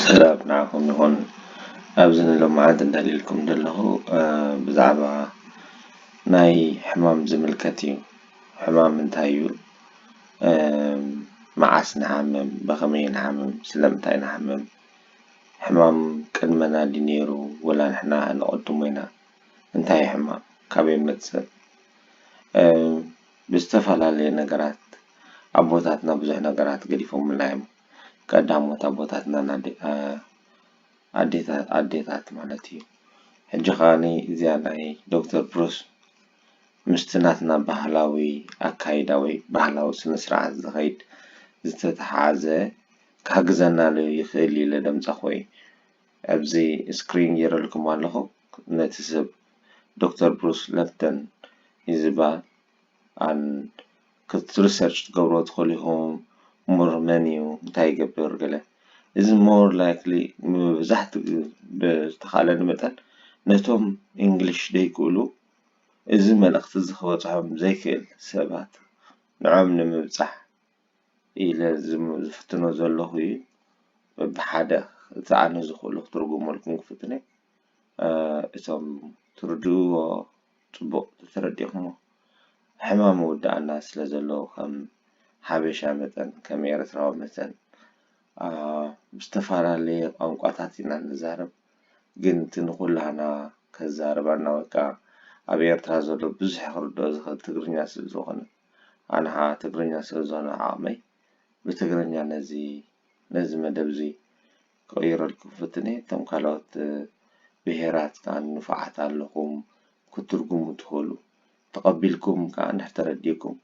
ሰላም ንዓኹም ይኹን ኣብዚ ንሎምዓንቲ እንዳልየልኩም ዘለኹ ብዛዕባ ናይ ሕማም ዝምልከት እዩ ሕማም እንታይ እዩ መዓስ ንሓምም ብኸመይ ንሓምም ስለምንታይ ንሓምም ሕማም ቅድመና ድዩ ነይሩ ወላ ንሕና ኣቐድሞ ኢና እንታይ እዩ ሕማም ካበይ ይመጽእ ብዝተፈላለየ ነገራት ኣቦታትና ብዙሕ ነገራት ገዲፎምልና እዮም ቀዳሞት ኣቦታትና ኣዴታት ማለት እዩ ሕጂ ከኣ እዚኣ ናይ ዶክተር ብሩስ ምስቲ ናትና ባህላዊ ኣካይዳ ወይ ባህላዊ ስነ ስርዓት ዝኸይድ ዝተተሓሓዘ ክሕግዘና ዶ ይኽእል ኢለ ደምጻኹ እየ ኣብዚ ስክሪን ጌረልኩም ኣለኹ ነቲ ሰብ ዶክተር ብሩስ ለፍተን ይዝባል ኣል ክት ሪሰርች ትገብሮ ትክእሉ ኢኩም ሙር መን እዩ እንታይ ይገብር ገለ እዚ ሞር ላይክሊ መብዛሕትኡ ግዜ ብዝተካእለኒ መጠን ነቶም ኢንግሊሽ ዘይክእሉ እዚ መልእክቲ እዚ ክበጽሖም ዘይክእል ሰባት ንዕኦም ንምብጻሕ ኢለ ዝፍትኖ ዘለኩ እዩ በብሓደ እቲ ኣነ ዝክእሎ ክትርጉመልኩም ክፍትን እየ። እቶም ትርድእዎ ጽቡቅ ተተረዲእክሞ ሕማም ምውዳእና ስለ ዘሎ ከም ሓበሻ መጠን ከም ኤረትራዊ መተን ብዝተፋላለየ ቋንቋታት ኢና ንዛረብ ግን እቲ ንኩላህና ከዛርባና ወይ ከኣ ኣብ ኤርትራ ዘሎ ብዙሕ ክርድኦ ዝክእል ትግርኛ ስለ ዝኮነ ኣነ ከኣ ትግርኛ ስለ ዝኮነ ዓቅመይ ብትግርኛ ነዚ ነዚ መደብ እዚ ክቕይረልኩም ፈትነ እየ እቶም ካልኦት ብሄራት ከኣ ንፉዓት ኣለኹም ክትትርጉሙ ትኽእሉ ተቐቢልኩም ከኣ እንድሕር ተረዲእኩም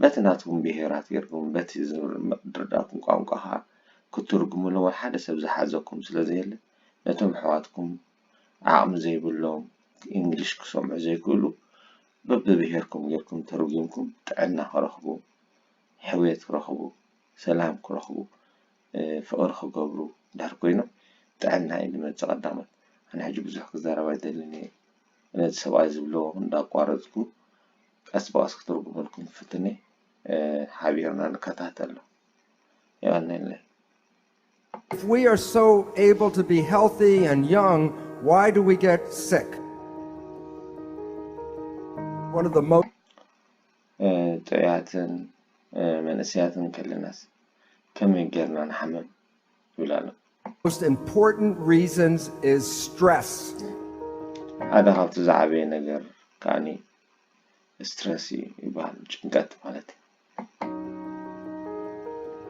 በቲ ናትኩም ብሄራት ጌርኩም በቲ ዝርድኣኩም ቋንቋ ከኣ ክትትርጉምሎም ወይ ሓደ ሰብ ዝሓዘኩም ስለ ዘየለ ነቶም ኣሕዋትኩም ዓቕሚ ዘይብሎም እንግሊሽ ክሰምዑ ዘይክእሉ በብብሄርኩም ጌርኩም ተርጒምኩም ጥዕና ክረኽቡ ሕውየት ክረኽቡ ሰላም ክረኽቡ ፍቅሪ ክገብሩ ድሕር ኮይኖም ጥዕና እዩ ዝመጽእ ቀዳሞት ኣነ ሕጂ ብዙሕ ክዛረብ ኣይደልን እየ ነዚ ሰብኣይ ዝብሎ እንዳቋረጽኩ ቀስ ብቀስ ክትርጉመልኩም ፍትኒ ሓቢርና ንከታተሎ የቀኔለይ If we are so able to be healthy and young, why do we get sick? One of the most ጥዑያትን መንእሰያትን ከለናስ ከመይ ጌርና ንሓምም ይብል ኣሎ። ሓደ ካብቲ ዝዓበየ ነገር ከኣ ስትረስ እዩ ይበሃል፣ ጭንቀት ማለት'ዩ።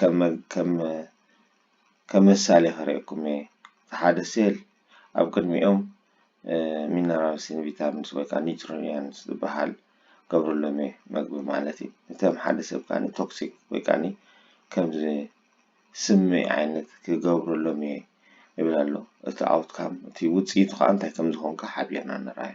ከም ምሳሌ ክርኤኩም እየ ሓደ ሴል ኣብ ቅድሚኦም ሚነራልስን ቪታሚንስ ወይ ከዓ ኒውትሪየንትስ ዝበሃል ገብረሎም እየ መግቢ ማለት እዩ። እቶም ሓደ ሰብ ከዓ ቶክሲክ ወይ ከዓ ከምዚ ስሚ ዓይነት ክገብረሎም እየ ይብል ኣሎ። እቲ ኣውትካም እቲ ውፅኢቱ ከዓ እንታይ ከም ዝኾንካ ሓቢርና ንርኣዮ።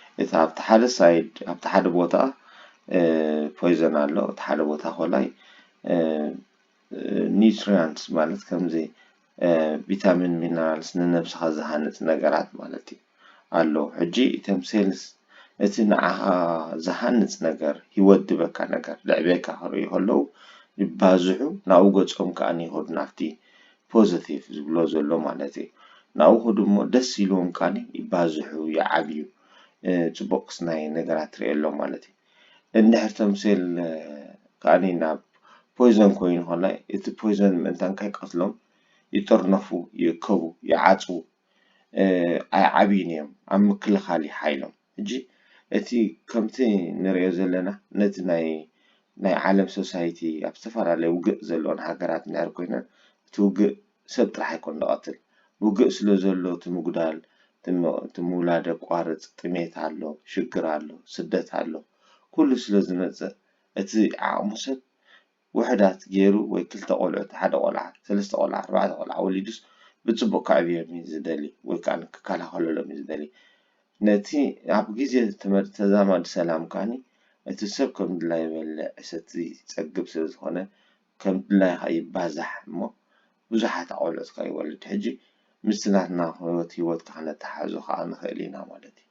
እቲ ኣብቲ ሓደ ሳይድ ኣብቲ ሓደ ቦታ ፖይዘን ኣሎ እቲ ሓደ ቦታ ኮላይ ኒውትሪያንስ ማለት ከምዚ ቪታሚን ሚነራልስ ንነብስኻ ዝሃንፅ ነገራት ማለት እዩ ኣሎ ሕጂ እቶም ሴልስ እቲ ንዓኻ ዝሃንፅ ነገር ሂወት ድበካ ነገር ልዕቤካ ክርእዩ ከለዉ ይባዝሑ ናብኡ ገፆም ከኣ ይኸዱ ናብቲ ፖዘቲቭ ዝብሎ ዘሎ ማለት እየ ናብኡ ክዱ እሞ ደስ ኢልዎም ካኒ ይባዝሑ ይዓብዩ ፅቡቅ ክስናይ ነገራት ትሪኤሎም ማለት እዩ እንድሕር ቶም ሴል ካኒ ናብ ፖይዞን ኮይኑ ከላ እቲ ፖይዞን ምእንታን ከይቀትሎም ይጥርነፉ ይእከቡ ይዓፅዉ ኣይዓብዩን እዮም ኣብ ምክልኻል እዩ ሓይሎም ሕጂ እቲ ከምቲ ንርእዮ ዘለና ነቲ ናይ ናይ ዓለም ሶሳይቲ ኣብ ዝተፈላለየ ውግእ ዘለወን ሃገራት እንድሕር ኮይነን እቲ ውግእ ሰብ ጥራሕ ኣይኮን ዝቐትል ውግእ ስለ ዘሎ እቲ ምጉዳል እቲ ምውላድ የቋርጽ ጥሜት ኣሎ ሽግር ኣሎ ስደት ኣሎ ኩሉ ስለ ዝመጽእ እቲ ዓቕሙ ሰብ ውሑዳት ገይሩ ወይ ክልተ ቆልዑት ሓደ ቆልዓ ሰለስተ ቆልዓ ኣርባዕተ ቆልዓ ወሊዱስ ብጽቡቅ ከዕብዮም እዩ ዝደሊ ወይ ከኣ ክከላኸለሎም እዩ ዝደሊ ነቲ ኣብ ግዜ ተዛማዲ ሰላም ከኣ እቲ ሰብ ከም ድላዩ ይበልዕ ይሰቲ ይጸግብ ስለ ዝኾነ ከም ድላዩ ከኣ ይባዛሕ እሞ ብዙሓት ቆልዑት ከኣ ይወልድ ሕጂ ምስቲ ናትና ህይወት ህይወት ከኣ ክነተሓሕዞ ከኣ ንኽእል ኢና ማለት እዩ።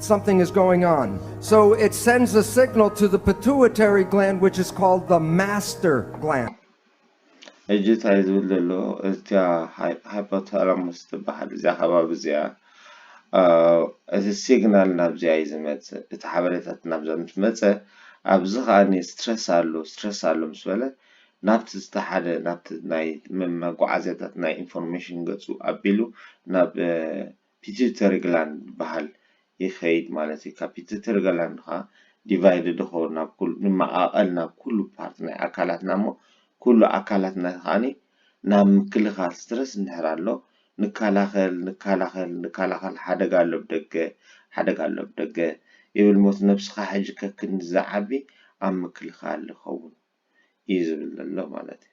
Something is going on. So it sends a signal to the pituitary gland, which is called the master gland. ሕጂ እንታይ ዝብል ዘሎ እዚኣ ሃይፖታላሙስ ትበሃል እዚኣ ከባቢ እዚኣ እቲ ሲግናል ናብዚኣ እዩ ዝመፅእ እቲ ሓበሬታት ናብዛ ምስ መፀ ኣብዚ ከዓኒ ስትረስ ኣሎ ስትረስ ኣሎ ምስ በለ ናብቲ ዝተሓደ ናብቲ ናይ መጓዓዝያታት ናይ ኢንፎርሜሽን ገፁ ኣቢሉ ናብ ፒትዩተሪግላንድ ዝበሃል ይኸይድ ማለት እዩ። ካብ ፒትዩተሪግላንድ ከኣ ዲቫይድ ደኾ ናብ ኩሉ ንመቓቐል ናብ ኩሉ ፓርት ናይ ኣካላትና እሞ ኩሉ ኣካላትና ከኣ ናብ ምክልኻል ስትረስ እንድሕር ኣሎ ንከላኸል ንከላኸል ንከላኸል ሓደጋ ኣሎ ብደገ ሓደጋ ኣሎ ብደገ ይብል ሞት ነብስኻ ሕጂ ከክንዲ ዝዓቢ ኣብ ምክልኻል ይኸውን እዩ ዝብል ዘሎ ማለት እዩ።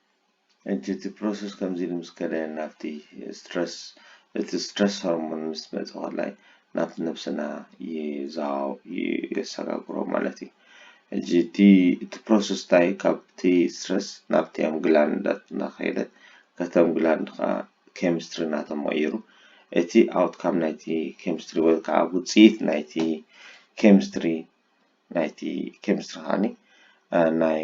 እቲ እቲ ፕሮሰስ ከምዚ ኢሉ ምስ ከደ ናብቲ ስትረስ እቲ ስትረስ ሆርሞን ምስ መጸ ኮላይ ናብቲ ነብስና ይዛው የሰጋግሮ ማለት እዩ። ሕጂ እቲ እቲ ፕሮሰስ እንታይ እዩ ካብቲ ስትረስ ናብቲ ኣም ግላንዳት እናኸደ ከተም ግላንድ ከኣ ኬሚስትሪ እናተመቐየሩ እቲ ኣውትካም ናይቲ ኬሚስትሪ ወይ ከዓ ውጽኢት ናይቲ ኬሚስትሪ ናይቲ ኬሚስትሪ ከዓኒ ናይ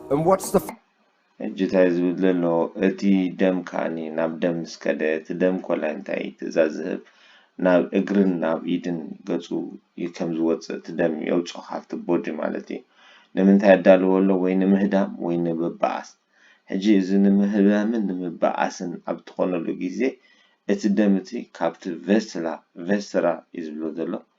and what's the ሕጂ ታይ ዝብል ዘሎ እቲ ደም ከኣኒ ናብ ደም ምስ ከደ እቲ ደም ኮላይ እንታይ ትእዛዝ ዝህብ ናብ እግርን ናብ ኢድን ገጹ ዩ ከም ዝወጽእ እቲ ደም የውጾ ካብቲ ቦዲ ማለት ዩ ንምንታይ የዳልዎ ኣሎ ወይ ንምህዳም ወይ ንምብኣስ ሕጂ እዚ ንምህዳምን ንምብኣስን ኣብ ትኾነሉ ግዜ እቲ ደም እቲ ካብቲ ቨስላ፣ Vescera፣ ዩ ዝብሎ ዘሎ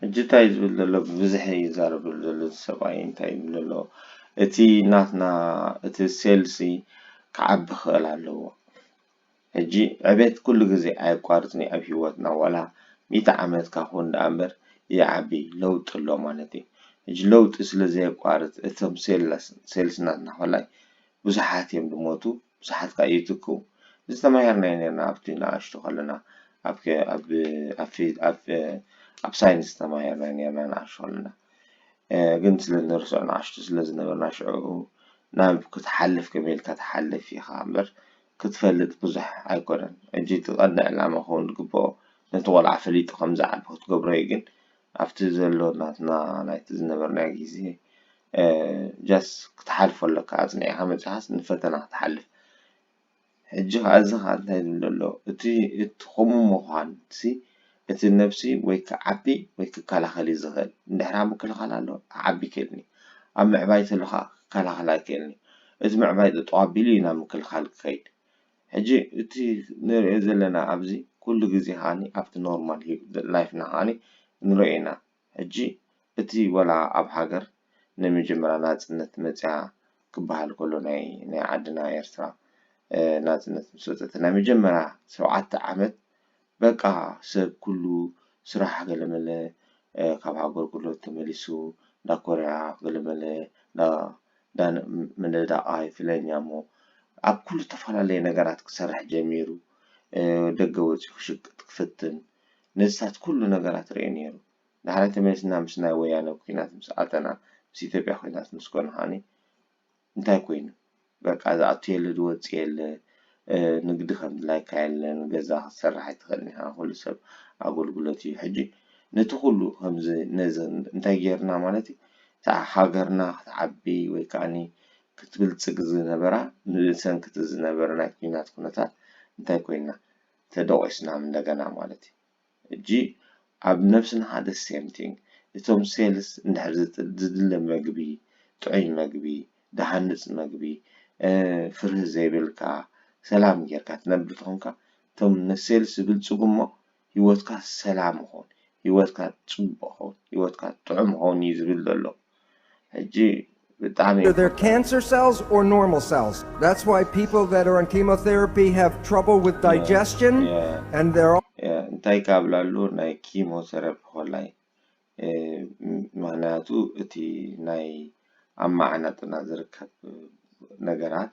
ሕጂ እንታይ እዩ ዝብል ዘሎ ብብዝሒ እዩ ዝዛረብ ዘሎ እዚ ሰብኣይ እንታይ ይብል ዘሎ እቲ ናትና እቲ ሴልሲ ክዓቢ ክኽእል ኣለዎ ሕጂ ዕቤት ኩሉ ግዜ ኣየቋርጽን እዩ ኣብ ሂወትና ዋላ ሚእቲ ዓመት እካ ኩን ደኣ እምበር ይዓቢ ለውጢ ኣሎ ማለት እዩ ሕጂ ለውጢ ስለ ዘየቋርጽ እቶም ሴልስ ሴልስና ናሆላይ ብዙሓት እዮም ዝሞቱ። ብዙሓት ከኣ ይትክኡ። ዝተማህርናዮ ኔርና ኣብቲ ንኣሽቱ ከለና ኣብ ኣብ ኣብ ኣብ ሳይንስ ተማሂርና ኔርና ንኣሽቱ ከለና ግን ስለ ንርስዖ ንኣሽቱ ስለ ዝነበርና ሽዑ ናብ ክትሓልፍ ከመይ ኢልካ ትሓልፍ ኢኻ እምበር ክትፈልጥ ብዙሕ ኣይኮነን ሕጂ እቲ ቀንዲ ዕላማ ክኸውን ዝግብኦ ነቲ ቆልዓ ፈሊጡ ከም ዝዓቢ ክትገብሮ እዩ ግን ኣብቲ ዘሎ ናትና ናይቲ ዝነበርናዮ ግዜ ጃስ ክትሓልፎ ኣለካ ኣጽኒዕካ መጺኻስ ንፈተና ክትሓልፍ ሕጂ ከኣ እዚ ከኣ እንታይ ዝብል ዘሎ እቲ እቲ ከምኡ ምዃን እቲ እቲ ነብሲ ወይ ክዓቢ ወይ ክከላኸል እዩ ዝኽእል እንድሕር ኣብ ምክልኻል ኣሎ ክዓቢ ይክእልኒ ኣብ ምዕባይ ተሎ ከኣ ክከላኸል ኣይክእልኒ እቲ ምዕባይ ጠጠው ኣቢሉ እዩ ናብ ምክልኻል ክኸይድ ሕጂ እቲ ንሪኦ ዘለና ኣብዚ ኩሉ ግዜ ከኣ ኣብቲ ኖርማል ላይፍና ከኣ ንሪኦ ኢና ሕጂ እቲ ወላ ኣብ ሃገር ናይ መጀመርያ ናጽነት መጽያ ክበሃል ከሎ ናይ ናይ ዓድና ኤርትራ ናጽነት ምስ ወጸት ናይ መጀመርያ ሸውዓተ ዓመት በቃ ሰብ ኩሉ ስራሕ ገለመለ ካብ ሃገርጉሎ ተመሊሱ እንዳ ኮርያ ገለመለ እንዳ እንዳ ምንዳቓይ ፍለኛሞ ኣብ ኩሉ እተፈላለየ ነገራት ክሰርሕ ጀሚሩ ደገ ወጺኡ ክሽቅጥ ክፍትን ነዚታት ኩሉ ነገራት ርእዩ ኔሩ ዳሕራይ ተመሊስና ምስ ናይ ወያነ ኩናት ምስ ኣተና ምስ ኢትዮጵያ ኩናት ምስ ኮነ ከኣ እንታይ ኮይኑ በቃ ዝኣቱ የለ ዝወጽእ የለ ንግዲ ከምድላይካ የለን ገዛ ክትሰርሕ ኣይትክእልን ኢካ ኩሉ ሰብ ኣጎልጉለት እዩ ሕጂ ነቲ ኩሉ ከምዚ ነዚ እንታይ ጌርና ማለት እዩ እታ ሃገርና ክትዓቢ ወይ ከኣ ክትብልጽግ ዝነበራ ብሰንኪ እቲ ዝነበረ ናይ ኩናት ኩነታት እንታይ ኮይና ተደቂስና እንደገና ማለት እዩ ሕጂ ኣብ ነብስና ከኣ the same thing እቶም cells እንድሕር ዝድለ መግቢ ጥዑይ መግቢ ድሃንጽ መግቢ ፍርሂ ዘይብልካ ሰላም ጌርካ ትነብር ተኾንካ እቶም ን cells ይብልጽጉ እሞ ሂወትካ ሰላም ይኾን ሂወትካ ጽቡቅ ይኾን ሂወትካ ጥዑም ይኾን እዩ ዝብል ዘሎ። ሕጂ ብጣዕሚ የኮርዕ። እንታይ ካብላሉ ናይ ኪሞ ሰረፒ ኮላይ ምክንያቱ እቲ ናይ ኣብ ማዓናጡና ዝርከብ ነገራት።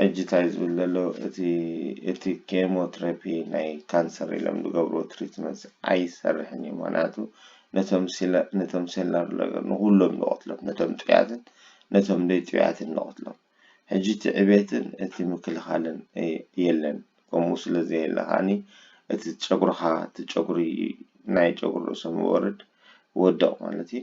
ሕጂ ታይ ዝብል ዘሎ እቲ እቲ ኬሞ ትረፒ ናይ ካንሰር ኢሎም ዝገብርዎ ትሪትመንትስ ኣይሰርሕን እዩ ምክንያቱ ነቶም ሲለ ነቶም ሴላር ለገር ንኩሎም ዝቀትሎም ነቶም ጥዑያትን ነቶም ደይ ጥዑያትን ዝቀትሎም ሕጂ እቲ ዕብየትን እቲ ምክልካልን የለን ከምኡ ስለ ዘየለ ከኣኒ እቲ ጨጉርካ እቲ ጨጉሪ ናይ ጨጉሪ ርእሶም ዝወርድ ወድቅ ማለት እዩ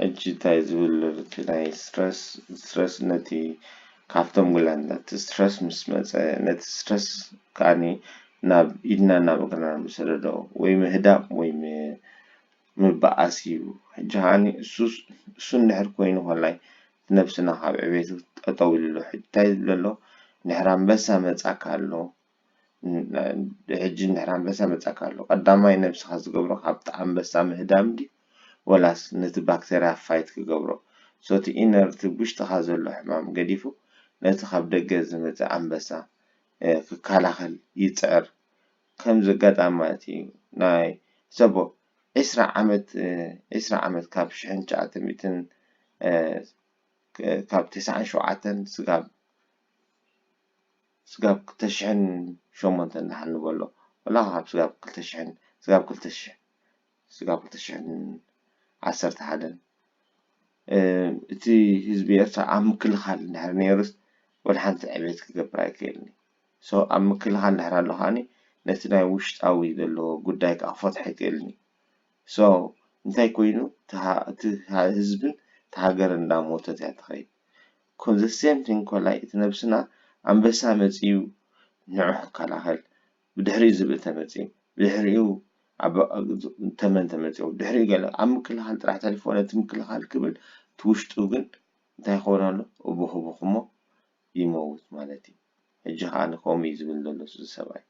ሕጂ ታይ ዝብል ኣሎ እቲ ናይ ስትረስ ስትረስ ነቲ ካብቶም ጉላንዳ እቲ ስትረስ ምስ መጸ ነቲ ስትረስ ከኣኒ ናብ ኢድናን ናብ እግርናን ንሰደዶ ወይ ምህዳም ወይ ምብኣስ እዩ ሕጂ ከኣኒ እሱስ እሱ እንድሕር ኮይኑ ኮላይ እቲ ነብስና ካብ ዕቤት ጠጠው ኢሉ ኣሎ ሕጂ ታይ ዝብል ኣሎ እንድሕር ኣንበሳ መጻካ ኣሎ ሕጂ እንድሕር ኣንበሳ መጺኣካ ኣሎ ቀዳማይ ነብስኻ ዝገብሮ ካብቲ ኣንበሳ ምህዳም ድዩ ወላስ ነቲ ባክተርያ ፋይት ክገብሮ ሶ እቲ ኢነር እቲ ውሽጥኻ ዘሎ ሕማም ገዲፉ ነቲ ካብ ደገ ዝመጸ ኣንበሳ ክከላኸል ይጽዕር ከምዚ ኣጋጣሚ ማለት እዩ ናይ ሕሰቦ ዕስራ ዓመት ዕስራ ዓመት ካብ ሽሕን ትሽዓተን ሚእትን ካብ ተስዓን ሸውዓተን ስጋብ ስጋብ ክልተ ሽሕን ሸሞንተን ደሓን ንበሎ ወላ ካብ ስጋብ ክልተ ሽሕን ስጋብ ክልተ ሽሕ ስጋብ ክልተ ሽሕን ዓሰርተ ሓደን እቲ ህዝቢ ኤርትራ ኣብ ምክልኻል እንድሕር ነይሩስ ወላ ሓንቲ ዕብየት ክገብር ኣይክእልን እዩ ሶ ኣብ ምክልኻል እንድሕር ኣሎ ከዓኒ ነቲ ናይ ውሽጣዊ ዘሎ ጉዳይ ከዓ ክፈትሖ ኣይክእልን እዩ ሶ እንታይ ኮይኑ እቲ ህዝብን እቲ ሃገርን እንዳሞተት እያ ትኸይድ ኮን ዘ ሴም ቲንግ ኮላይ እቲ ነብስና ኣንበሳ መጺኡ ንዑ ክከላኸል ብድሕሪኡ ዝብኢ ተመጺኡ ብድሕሪኡ ተመን ተመጺኡ ብድሕሪኡ ገለ ኣብ ምክልኻል ጥራሕ ተሪፍዎ ነቲ ምክልኻል ክብል እቲ ውሽጡ ግን እንታይ ይኸውን ኣሎ እቡኽ እቡኽ እሞ ይመውት ማለት እዩ ሕጂ ከኣ ከምኡ እዩ ዝብል ዘሎ እዚ ሰብኣይ።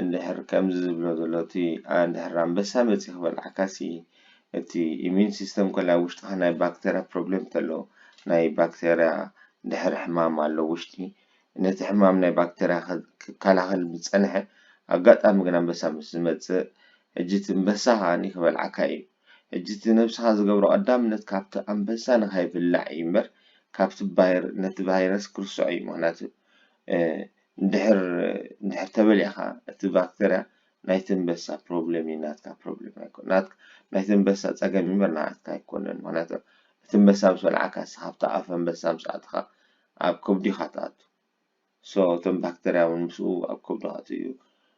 እንድሕር ከምዚ ዝብሎ ዘሎ እቲ ኣንድሕር ኣንበሳ መጺኡ ክበልዓካሲ እቲ ኢሚዩን ሲስተም ኮለ ኣብ ውሽጥካ ናይ ባክተርያ ፕሮብሌም ተሎ ናይ ባክተርያ ድሕር ሕማም ኣሎ ውሽጢ ነቲ ሕማም ናይ ባክተርያ ክከላከል ምስ ጸንሐ ኣጋጣሚ ግን ኣንበሳ ምስ ዝመጽእ ሕጂ እቲ እንበሳ ከኣኒ ክበልዓካ ኢዩ ሕጂ እቲ ነብስካ ዝገብሮ ቀዳምነት ካብቲ ኣንበሳ ንከይብላዕ ኢዩ እምበር ካብቲ ባይር ነቲ ባይረስ ክርስዖ ኢዩ ምክንያቱ እንድሕር ተበሊዕካ እቲ ባክተርያ ናይቲ ኣንበሳ ፕሮብለም እዩ ናትካ ፕሮብለም ኣይኮነን ናይቲ ኣንበሳ ፀገም እዩ እምበር ናዓካ ኣይኮነን ምክንያቱ እቲ ኣንበሳ ምስ በልዓካ ንስካ ኣብቲ ኣፍ ኣንበሳ ምስ ኣተካ ኣብ ከብዱ ኢካ ትኣቱ so እቶም ባክተርያ እውን ምስኡ ኣብ ከብዱ ክኣትው እዩ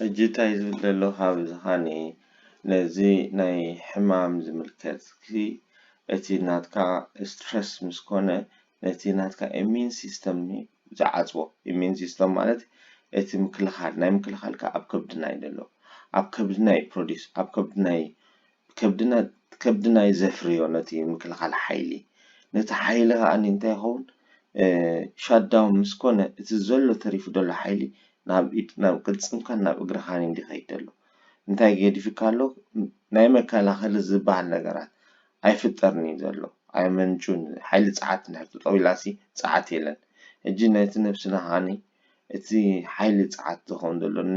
ሕጂ ታይ ዝብል ደለኩ ብዝካኒ ነዚ ናይ ሕማም ዝምልከትሲ እቲ ናትካ እስትረስ ምስ ኮነ ነቲ ናትካ እሚን ሲስተም እዩ ዝዓጽዎ እሚን ሲስተም ማለት እቲ ምክልካል ናይ ምክልካልካ ኣብ ከብድና እዩ ደሎ ኣብ ከብድና እዩ ፕሮዲስ ኣብ ከብድና እዩ ከብድና ከብድና እዩ ዘፍርዮ ነቲ ምክልኻል ሓይሊ ነቲ ሓይሊ ከኣ እንታይ ይኸውን ሻዳውን ምስ ኮነ እቲ ዘሎ ተሪፉ ዘሎ ሓይሊ ናብ ኢድ ናብ ቅልጽምካን ናብ እግርኻን እዩ ዲኺኸይድ ዘሎ እንታይ ገዲፍካ ኣሎ ናይ መከላኸሊ ዝበሃል ነገራት ኣይፍጠርን እዩ ዘሎ ኣይመንጩን ሓይሊ ጸዓት እንድሕር ጠጠው ኢላሲ ጸዓት የለን ሕጂ ነቲ ነብስና ከኣ እቲ ሓይሊ ጸዓት ዝኸውን ዘሎ ን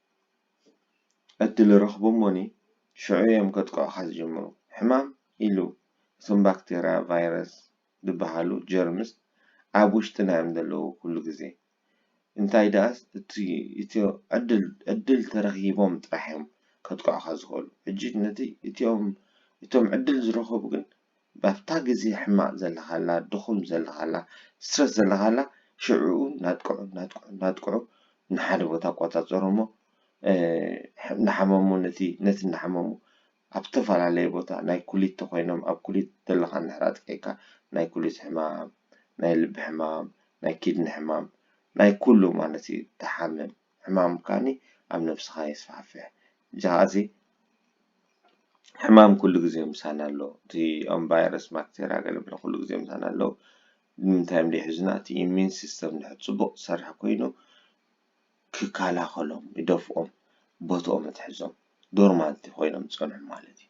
ዕድል ረኽቦሞኒ ሽዑ እዮም ከጥቅዑኻ ዝጅምሩ። ሕማም ኢሉ እቶም ባክተርያ፣ ቫይረስ ድበሃሉ ጀርምስ ኣብ ውሽጥና እዮም ደለዉ ኩሉ ግዜ። እንታይ ደኣስ እቲ ዕድል ዕድል ተረኺቦም ጥራሕ እዮም ከጥቅዑኻ ዝኽእሉ። ሕጂ ነቲ እቲኦም እቶም ዕድል ዝረኸቡ ግን ባብታ ግዜ ሕማቅ ዘለካላ ድኩም ዘለካላ ስትረስ ዘለካላ ሽዑኡ ናጥቅዑ ናጥቅዑ ናጥቅዑ ንሓደ ቦታ ኣቆጻጸሩ እሞ ናሓመሙ ነቲ ነቲ ናሓመሙ ኣብ ዝተፋላለየ ቦታ ናይ ኩሊት ተኮይኖም ኣብ ኩሊት ዘለካ እንድሕር ኣጥቂዕካ ናይ ኩሊት ሕማም ናይ ልቢ ሕማም ናይ ኪድኒ ሕማም ናይ ኩሉ ማለት እዩ ትሓምም። ሕማም ካኒ ኣብ ነብስኻ የስፋሕፍሕ ጃሃዚ ሕማም ኩሉ ግዜ ምሳና ኣሎ እቲ ኦም ባይረስ ባክተርያ ገለ ብለ ኩሉ ግዜ ምሳና ኣሎ ንምንታይ እዮም ዘይሕዙና እቲ ኢሚን ሲስተም ድሕር ጽቡቕ ዝሰርሕ ኮይኑ ክከላኸሎም ይደፍኦም ቦትኦም እትሕዞም ዶርማንቲ ኮይኖም ዝጸንሑ ማለት እዩ።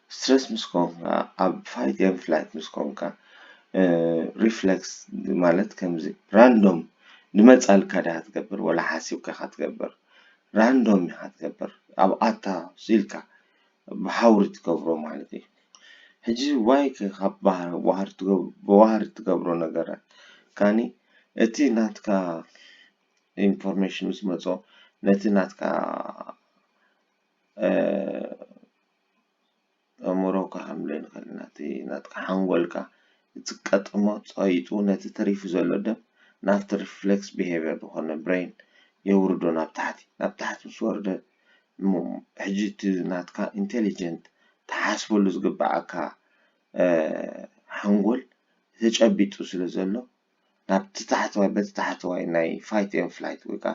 ስትረስ ምስ ኮንካ ኣብ ፋይት ኤን ፍላይት ምስ ኮንካ ሪፍለክስ ማለት ከምዚ ራንዶም ንመጻልካ ድካ ትገብር ወላ ሓሲብካ ኢካ ትገብር ራንዶም ኢካ ትገብር ኣብ ኣታ ኢልካ ብሃውሪ ትገብሮ ማለት እዩ ሕጂ ዋይ ከ ካብ ብዋህሪ ትገብሮ ነገራት ካኒ እቲ ናትካ ኢንፎርሜሽን ምስ መጾ ነቲ ናትካ። ኣእምሮኻ ሓምለ ንኸእል ናቲ ናትካ ሓንጎልካ ዝቀጥሞ ጸይጡ ነቲ ተሪፉ ዘሎ ደም ናብቲ reflex behavior ዝኾነ ብረይን የውርዶ ናብ ታሕቲ ናብ ታሕቲ ምስ ወርደ እሞ ሕጂ እቲ ናትካ ኢንተሊጀንት ትሓስበሉ ዝግብኣካ ሓንጎል ተጨቢጡ ስለ ዘሎ ናብቲ ታሕተዋይ በቲ ታሕተዋይ ናይ ፋይት ኤን ፍላይት ወይ ከዓ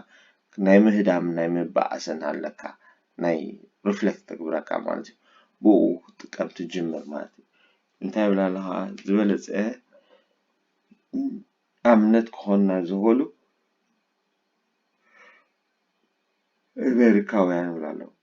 ናይ ምህዳምን ናይ ምባኣስን ኣለካ ናይ ሪፍሌክት ተግብረካ ማለት እዩ ብኡ ክትጥቀም ትጅምር ማለት እዩ እንታይ ይብል ኣሎ ከዓ ዝበለፀ ኣብነት ክኾንና ዝኽእሉ ኣሜሪካውያን ይብሉ ኣለዉ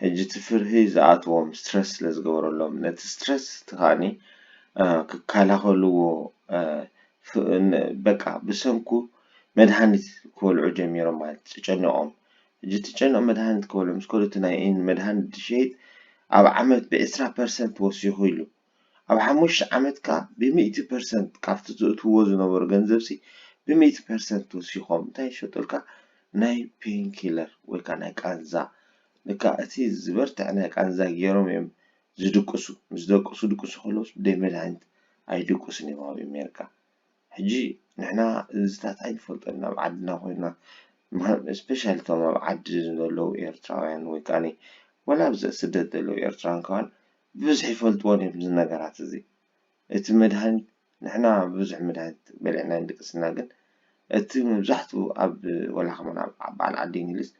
ሕጂ እቲ ፍርሂ ዝኣትዎም ስትረስ ስለ ዝገበረሎም ነቲ ስትረስ እቲ ከኣ ክከላኸልዎ በቃ ብሰንኩ መድሃኒት ክበልዑ ጀሚሮም ማለት እዩ ተጨኒቖም ሕጂ እቲ ጨኒቖም መድሃኒት ክበልዑ ምስ ከዱ እቲ ናይ መድሃኒት ሸይጥ ኣብ ዓመት ብዕስራ ፐርሰንት ወሲኹ ኢሉ ኣብ ሓሙሽተ ዓመት ከኣ ብሚእቲ ፐርሰንት ካብቲ ዘእትውዎ ዝነበሩ ገንዘብሲ ብሚእቲ ፐርሰንት ወሲኾም እንታይ ይሸጡልካ ናይ ፔንኪለር ወይ ከኣ ናይ ቃንዛ ልክዕ እቲ ዝበርትዐ ናይ ቃንዛ ጌሮም እዮም ዝድቅሱ ምስ ደቅሱ ድቅሱ ከለውስ ብደይ መድሃኒት ኣይድቁስን እዮም ኣብ ኤሜርካ ሕጂ ንሕና እዚታት ኣይንፈልጦን ናብ ዓድና ኮይና ስፔሻሊ እቶም ኣብ ዓዲ ዘለዉ ኤርትራውያን ወይ ከኣ ወላ ኣብ ስደት ዘለዉ ኤርትራውያን ከማን ብብዝሒ ይፈልጥዎ ድዮም እዚ ነገራት እዚ እቲ መድሃኒት ንሕና ብዙሕ መድሃኒት በሊዕና ኣይንድቅስና ግን እቲ መብዛሕትኡ ኣብ ወላ ከማን ኣብ በዓል ዓዲ እንግሊዝ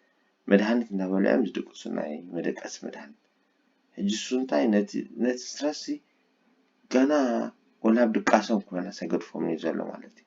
መድሃኒት እንዳበልዑ እዮም ዝድቅሱ ናይ መደቀሲ መድሃኒት ሕጂ እሱ እንታይ ነቲ ነቲ ስትረስ ጋና ወላ ኣብ ድቃሶም ክመለስ ኣይገድፎምን እዩ ዘሎ ማለት እዩ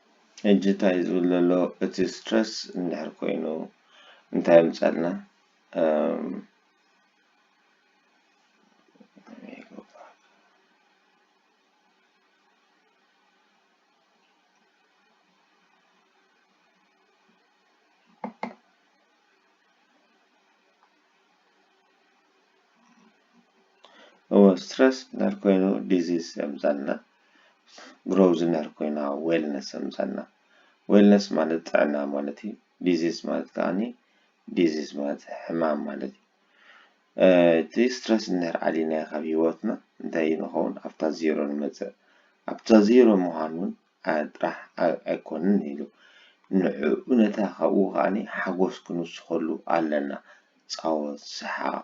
ሕጂ ታይ ዝብል ዘሎ እቲ ስትረስ እንድሕር ኮይኑ እንታይ የምጻልና እም። እወ ስትረስ እንድሕር ኮይኑ ዲዚዝ የምጻልና። ግሮውዝነር ኮይና ዌልነስ ኣምጻልና። ዌልነስ ማለት ጥዕና ማለት እዩ። ዲዚዝ ማለት ከኣ ዲዚዝ ማለት ሕማም ማለት እዩ። እቲ ስትረስ እንድሕር ኣሊናዮ ካብ ህይወትና እንታይ እዩ ንኸውን ኣብታ ዜሮ ንመጽእ። ኣብታ ዜሮ ምዃን እውን ጥራሕ ኣይኮንን ኢሉ። ንዕኡ ነታ ካብኡ ከኣ ሓጎስ ክንውስኸሉ ኣለና። ጻወት፣ ሰሓቕ፣